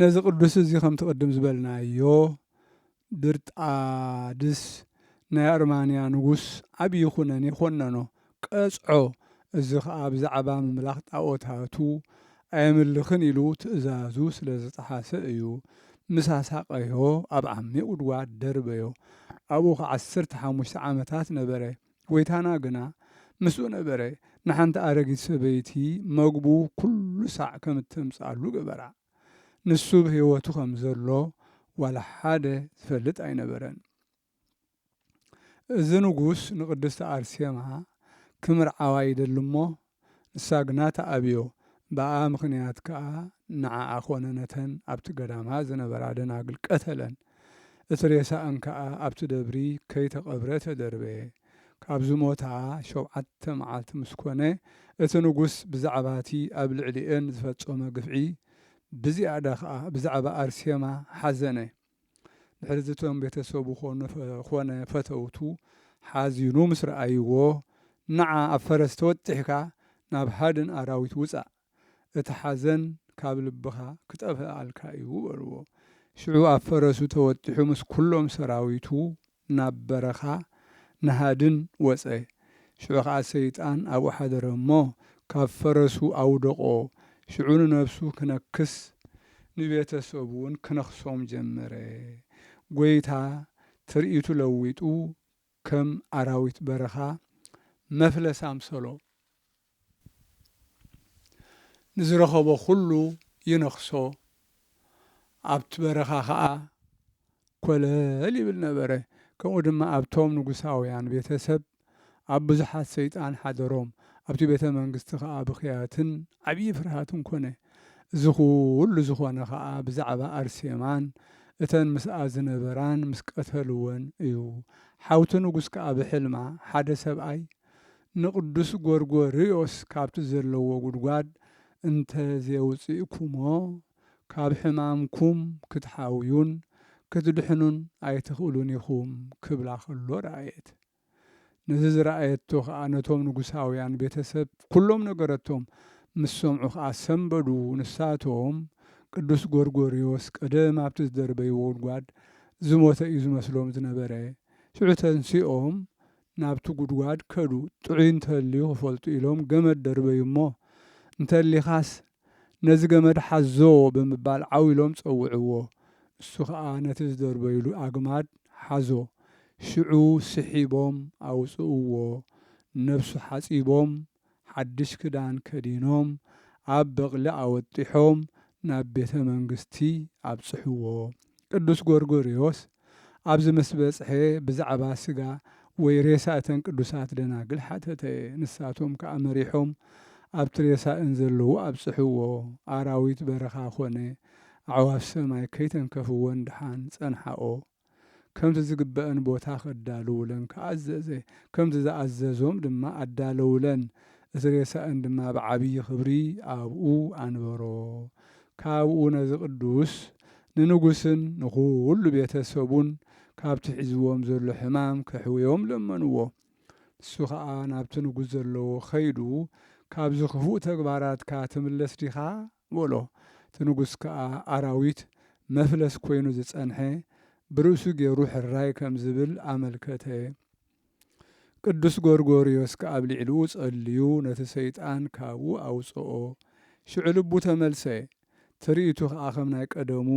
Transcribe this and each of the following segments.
ነዚ ቅዱስ እዚ ከምቲ ቅድም ዝበልናዮ ድርጣድስ ናይ ኣርማንያ ንጉስ ዓብዪ ኩነኔ ኮነኖ፣ ቀጽዖ። እዚ ኸኣ ብዛዕባ ምምላኽ ጣኦታቱ ኣየምልኽን ኢሉ ትእዛዙ ስለ ዝጠሓሰ እዩ። ምስ ኣሳቐዮ ኣብ ዓሚቕ ጕድጓድ ደርበዮ። ኣብኡ ኸኣ ዓሰርተ ሓሙሽተ ዓመታት ነበረ። ጐይታና ግና ምስኡ ነበረ፣ ንሓንቲ ኣረጊት ሰበይቲ መግቡ ኵሉ ሳዕ ከም እተምጽኣሉ ገበራ። ንሱ ብ ህይወቱ ኸም ዘሎ ዋላ ሓደ ዝፈልጥ ኣይነበረን። እዚ ንጉስ ንቅድስቲ ኣርሴማ ክምርዓዋ ይደሊ እሞ ንሳ ግና ትኣብዮ፣ ብኣኣ ምኽንያት ከኣ ንዓኣ ዀነ ነተን ኣብቲ ገዳማ ዝነበራ ደናግል ቀተለን። እቲ ሬሳኣን ከኣ ኣብቲ ደብሪ ከይተቐብረ ተደርበ። ካብ ዝሞታ ሾብዓተ መዓልቲ ምስ ኰነ፣ እቲ ንጉስ ብዛዕባ እቲ ኣብ ልዕሊኤን ዝፈጸሞ ግፍዒ፣ ብዝያዳ ኸኣ ብዛዕባ ኣርሴማ ሓዘነ። ድሕሪዚ እቶም ቤተሰቡ ዀነ ፈተውቱ ሓዚኑ ምስ ረኣይዎ፣ ንዓ ኣብ ፈረስ ተወጢሕካ ናብ ሃድን ኣራዊት ውጻእ፣ እቲ ሓዘን ካብ ልብኻ ክጠፍእኣልካ እዩ በልዎ። ሽዑ ኣብ ፈረሱ ተወጢሑ ምስ ኵሎም ሰራዊቱ ናብ በረኻ ንሃድን ወጸ። ሽዑ ኸኣ ሰይጣን ኣብኡ ሓደረ እሞ፣ ካብ ፈረሱ ኣውደቖ። ሽዑ ንነፍሱ ክነክስ፣ ንቤተ ሰቡውን ክነኽሶም ጀመረ። ጐይታ ትርኢቱ ለዊጡ፣ ከም ኣራዊት በረኻ መፍለስ ኣምሰሎ። ንዝረኸቦ ዅሉ ይነኽሶ፣ ኣብቲ በረኻ ኸኣ ኰለል ይብል ነበረ። ከምኡ ድማ ኣብቶም ንጉሳውያን ቤተ ሰብ ኣብ ብዙሓት ሰይጣን ሓደሮም፣ ኣብቲ ቤተ መንግስቲ ኸኣ ብኽያትን ዓብዪ ፍርሃትን ኰነ። እዚ ዅሉ ዝዀነ ኸኣ ብዛዕባ ኣርሴማን እተን ምስኣ ዝነበራን ምስ ቀተልወን እዩ። ሓውቲ ንጉስ ከኣ ብሕልማ ሓደ ሰብኣይ ንቅዱስ ጎርጎርዮስ ካብቲ ዘለዎ ጉድጓድ እንተ ዜውጽእኩሞ፣ ካብ ሕማምኩም ክትሓውዩን ክትድሕኑን ኣይትኽእሉን ኢኹም ክብላ ኸሎ ረኣየት። ነዚ ዝረኣየቶ ኸኣ ነቶም ንጉሳውያን ቤተ ሰብ ኵሎም ነገረቶም፣ ምስ ሰምዑ ኸኣ ሰምበዱ፣ ንሳቶም፣ ቅዱስ ጎርጎርዮስ ቀደም ኣብቲ ዝደርበይዎ ጉድጓድ ዝሞተ እዩ ዝመስሎም ዝነበረ፣ ሽዑ ተንሲኦም ናብቲ ጉድጓድ ከዱ። ጥዑይ እንተልዩ ክፈልጡ ኢሎም ገመድ ደርበዩ እሞ፣ እንተሊኻስ ነዚ ገመድ ሓዞ ብምባል ዓው ኢሎም ጸውዕዎ። እሱ ከኣ ነቲ ዝደርበዩሉ ኣግማድ ሓዞ። ሽዑ ስሒቦም ኣውጽእዎ። ነብሱ ሓጺቦም ሓድሽ ክዳን ከዲኖም ኣብ በቕሊ ኣወጢሖም ናብ ቤተ መንግስቲ ኣብጽሕዎ። ቅዱስ ጎርጎርዮስ ኣብዚ ምስ በጽሐ ብዛዕባ ስጋ ወይ ሬሳ እተን ቅዱሳት ደናግል ሓተተ። ንሳቶም ከኣ መሪሖም ኣብቲ ሬሳእን ዘለዎ ኣብጽሕዎ። ኣራዊት በረኻ ኮነ ኣዕዋፍ ሰማይ ከይተንከፍወን ደሓን ጸንሓኦ። ከምቲ ዝግበእን ቦታ ከዳልዉለን ከኣ ኣዘዘ። ከምቲ ዝኣዘዞም ድማ ኣዳለዉለን፣ እቲ ሬሳእን ድማ ብዓብዪ ክብሪ ኣብኡ ኣንበሮ። ካብኡ ነዚ ቅዱስ ንንጉስን ንዅሉ ቤተ ሰቡን ካብቲ ሒዝዎም ዘሎ ሕማም ከሕውዮም ለመንዎ። ንሱ ኸኣ ናብቲ ንጉስ ዘለዎ ኸይዱ፣ ካብዚ ኽፉእ ተግባራትካ ትምለስ ዲኻ? በሎ። እቲ ንጉስ ከኣ ኣራዊት መፍለስ ኮይኑ ዝጸንሐ ብርእሱ ገይሩ ሕራይ ከም ዝብል ኣመልከተ። ቅዱስ ጎርጎርዮስ ከኣ ኣብ ልዕሊኡ ጸልዩ ነቲ ሰይጣን ካብኡ ኣውጽኦ። ሽዑ ልቡ ተመልሰ፣ ትርኢቱ ከኣ ከም ናይ ቀደሙ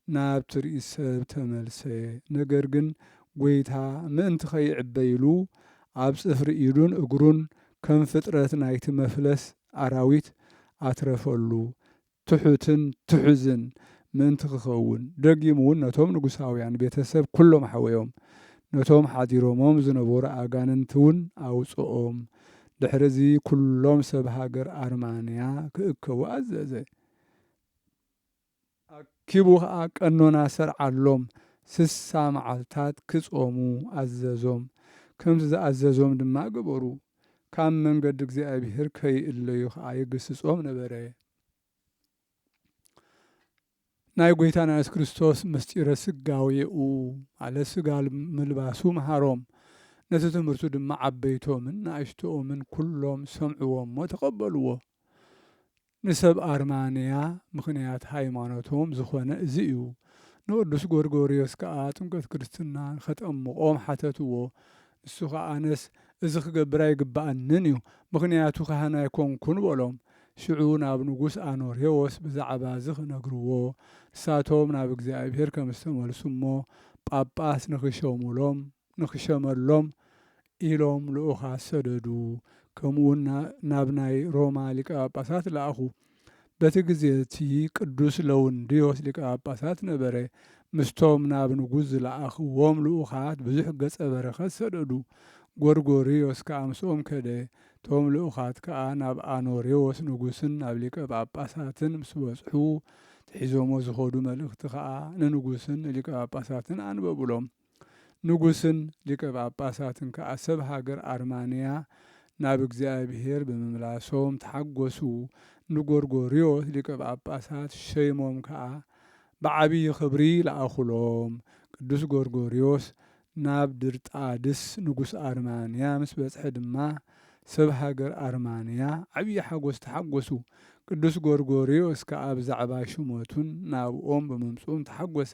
ናብ ትርኢት ሰብ ተመልሰ። ነገር ግን ጎይታ ምእንቲ ከይዕበ ኢሉ ኣብ ጽፍሪ ኢዱን እግሩን ከም ፍጥረት ናይቲ መፍለስ ኣራዊት ኣትረፈሉ፣ ትሑትን ትሑዝን ምእንቲ ኪኸውን፣ ደጊምውን ነቶም ንጉሳውያን ቤተ ሰብ ኵሎም ሓወዮም፣ ነቶም ሓዲሮሞም ዝነበሩ ኣጋንንቲውን ኣውጽኦም። ድሕርዚ ኵሎም ሰብ ሃገር ኣርማንያ ኪእከቡ ኣዘዘ። ኣኪቡ ኸኣ ቀኖና ሰርዓሎም፣ ስሳ መዓልታት ኪጾሙ ኣዘዞም፣ ከምቲ ዝኣዘዞም ድማ ገበሩ፣ ካብ መንገዲ እግዚኣብሄር ከይእለዩ ኸኣ ይግስጾም ነበረ። ናይ ጐይታና የሱስ ክርስቶስ ምሥጢረ ሥጋዌኡ፣ ማለት ሥጋ ምልባሱ መሃሮም፣ ነቲ ትምህርቱ ድማ ዓበይቶምን ንኣሽቶኦምን ኵሎም ሰምዕዎ እሞ ተቐበልዎ። ንሰብ ኣርማንያ ምኽንያት ሃይማኖቶም ዝኾነ እዚ እዩ። ንቅዱስ ጎርጎርዮስ ከኣ ጥምቀት ክርስትና ኸጠምቆም ሓተትዎ። ንሱ ኸኣ ኣነስ እዚ ኽገብር ኣይግብኣንን እዩ፣ ምኽንያቱ ካህን ኣይኮንኩን በሎም። ሽዑ ናብ ንጉስ ኣኖሬዎስ ብዛዕባ እዚ ኽነግርዎ፣ ንሳቶም ናብ እግዚኣብሔር ከም ዝተመልሱ እሞ ጳጳስ ንኽሸሙሎም ንኽሸመሎም ኢሎም ልኡኻት ሰደዱ፣ ከምኡውን ናብ ናይ ሮማ ሊቀ ጳጳሳት ለኣኹ። በቲ ግዜ እቲ ቅዱስ ለውንድዮስ ሊቀ ጳጳሳት ነበረ። ምስቶም ናብ ንጉስ ዝለኣኽዎም ልኡኻት ብዙሕ ገጸ በረኸት ሰደዱ። ጎርጎርዮስ ከኣ ምስኦም ከደ። እቶም ልኡኻት ከኣ ናብ ኣኖሬዎስ ንጉስን ናብ ሊቀ ጳጳሳትን ምስ በጽሑ፣ ትሒዞሞ ዝኸዱ መልእኽቲ ኸኣ ንንጉስን ንሊቀ ጳጳሳትን ኣንበቡሎም። ንጉስን ሊቀ ጳጳሳትን ከኣ ሰብ ሃገር ኣርማንያ ናብ እግዚኣብሔር ብምምላሶም ተሓጐሱ፣ ንጐርጐርዮስ ሊቀ ጳጳሳት ሸይሞም ከኣ ብዓቢይ ኽብሪ ለኣኹሎም። ቅዱስ ጐርጐርዮስ ናብ ድርጣድስ ንጉስ ኣርማንያ ምስ በጽሐ ድማ ሰብ ሃገር ኣርማንያ ዓቢይ ሓጐስ ተሓጐሱ። ቅዱስ ጐርጐርዮስ ከኣ ብዛዕባ ሹመቱን ናብኦም ብምምጽኡን ተሓጐሰ።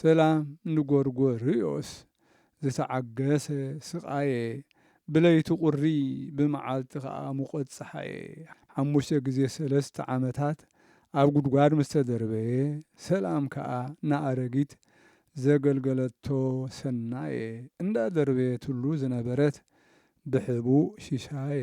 ሰላም ንጎርጎርዮስ ዝተዓገሰ ስቓየ ብለይቲ ቁሪ ብመዓልቲ ከኣ ሙቐት ጸሓየ ሓሙሽተ ግዜ ሰለስተ ዓመታት ኣብ ጉድጓድ ምስ ተደርበየ ሰላም ከኣ ንኣረጊት ዘገልገለቶ ሰናየ እንዳደርበየትሉ ዝነበረት ብሕቡእ ሽሻየ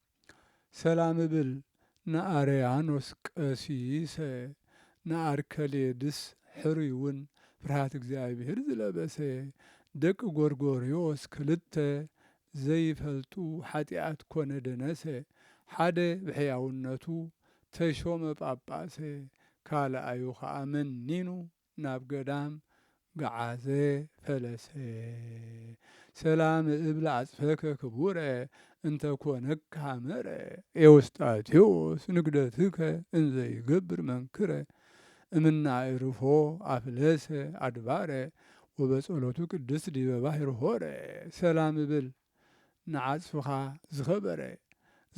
ሰላም እብል ንኣርያኖስ ቀሲሰ ንኣርከሌድስ ሕሩይውን ፍርሃት እግዚኣብሔር ዝለበሰ ደቂ ጎርጎርዮስ ክልተ ዘይፈልጡ ሓጢኣት ኮነ ደነሰ ሓደ ብሕያውነቱ ተሾመ ጳጳሰ ካልኣዩ ከኣ መኒኑ ናብ ገዳም ገዓዘ ፈለሰ። ሰላም እብል ኣጽፈከ ክቡረ እንተ ኮነካ መረ ኤዎስጣቴዎስ ንግደትከ እንዘ ይገብር መንክረ እምነ ኣዕርፎ ኣፍለሰ ኣድባረ ወበጸሎቱ ቅድስት ዲበ ባሕር ሆረ ሰላም እብል ንዓጽፍኻ ዝኸበረ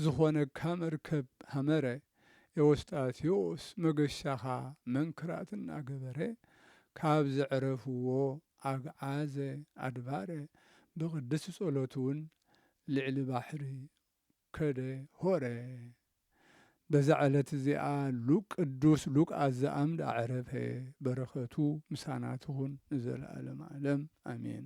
ዝኾነካ መርከብ ሃመረ ኤዎስጣቴዎስ መገሻኻ መንክራት እናገበረ ካብ ዘዕረፍዎ ኣግዓዘ ኣድባረ ብቅድስት ጸሎትውን ልዕሊ ባሕሪ ከደ ሆረ በዛ ዕለት እዚኣ ሉቅ ቅዱስ ሉቃስ ዘኣምድ ኣዕረፈ በረከቱ ምሳና ትኹን ንዘለዓለም ዓለም ኣሜን።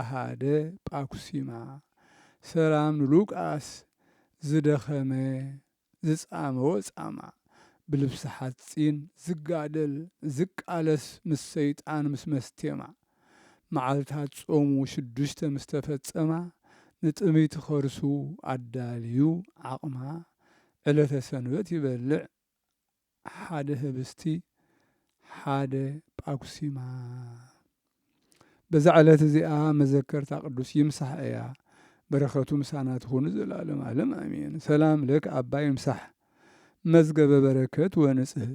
ኣሃደ ጳኩሲማ ሰላም ንሉቃስ ዝደኸመ ዝጻመወ ጻማ ብልብሲ ሓጺን ዝጋደል ዝቃለስ ምስ ሰይጣን ምስ መስቴማ መዓልታት ጾሙ ሽዱሽተ ምስ ተፈጸማ ንጥምይቲ ከርሱ ኣዳልዩ ዓቕማ ዕለተ ሰንበት ይበልዕ ሓደ ህብስቲ ሓደ ጳኩሲማ በዛ ዕለት እዚኣ መዘከርታ ቅዱስ ይምሳሕ እያ። በረከቱ ምሳና ትኹን ዘላለም ዓለም ኣሜን። ሰላም ለክ ኣባ ይምሳሕ መዝገበ በረከት ወንጽህ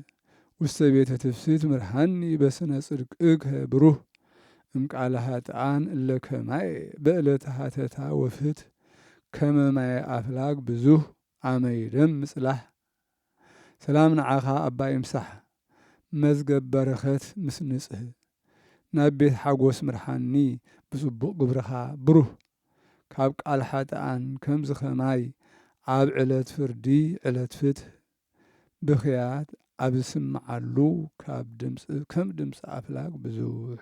ውስተ ቤተ ትፍሲት ምርሃኒ በስነ ጽድቅከ ብሩህ እምቃለ ሃጥኣን እለ ከማየ በእለተ ሃተታ ወፍት ከመ ማየ ኣፍላግ ብዙህ ኣመ ይደም ምጽላህ ሰላም ንዓኻ ኣባ ይምሳሕ መዝገብ በረከት ምስ ንጽህ ናብ ቤት ሓጎስ ምርሓኒ ብጽቡቅ ግብርኻ ብሩህ ካብ ቃል ሓጥኣን ከምዚ ከማይ ኣብ ዕለት ፍርዲ ዕለት ፍትህ ብኽያት ኣብ ዝስምዓሉ ካብ ድምጽ ከም ድምጽ ኣፍላግ ብዙሕ